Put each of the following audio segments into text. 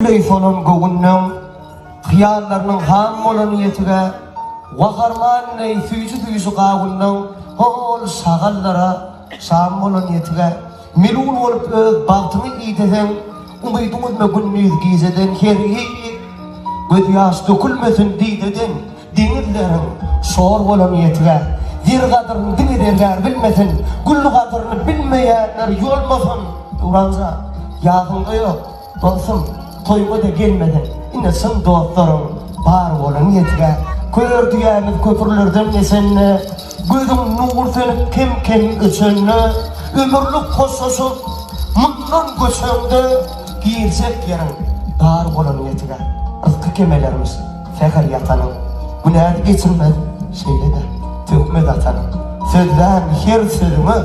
Güleý solan göwünleň, hyýallarynyň han bolan ýetige, Gaharman deý süýji-süýji gawunlaň, hol şagallara şam bolan ýetige, Melul bolup öz bagtyňy ideseň, umydyň üzme gündiz gijeden, Hergiz gözýaş dökülmesin dideden, deňiz derin şor bolan ýetige, Zer gadyryn diňe zergär bilmesin, gül gadyryn bilmeýänler ýolmasyn, Döwranjan, ýadyňda ýok, Dostum, toýuma-da gelmediň. Ine, çyn dostlaryň bar bolan ýetigä. Köner düýämiz köprülerden esen-de, gözüň nur sönüp kem-kem öçen-de, ömürlik hoşlaşyp, mundan göçeň-de, girjek ýeriň dar bolan ýetigä. Yzky kemelerimiz säher ýatanyň, günäsi geçilmez, şeýle-de töhmet atanyň, sözlän her sözüňe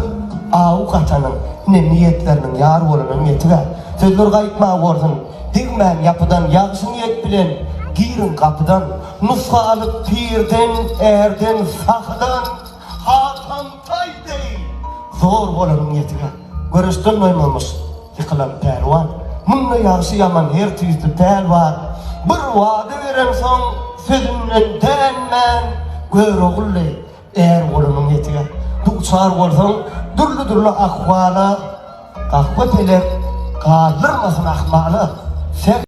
aw gatanyň, ine, niýetleriniň ýar bolanyň ýetigä. Sözler gaýtma gorsun, degmäň ýapydan Ýagşy niýet bilen giriň gapydan Nusga alyp pirden, ärden, sahydan Hakam taý deý, zor bolaryň ýetigi Göreşden doýmazmyş ýykylan pälwan Munda ýagşy-ýaman her tüýsli päl bar Bir wada berensoň, sözünden dänmän Görogul deý, Är golunyň ýetigi. Duçar bolsaň dürli-dürli ahwala, gahwa-telek galdyrmasyn ahmala. Sen.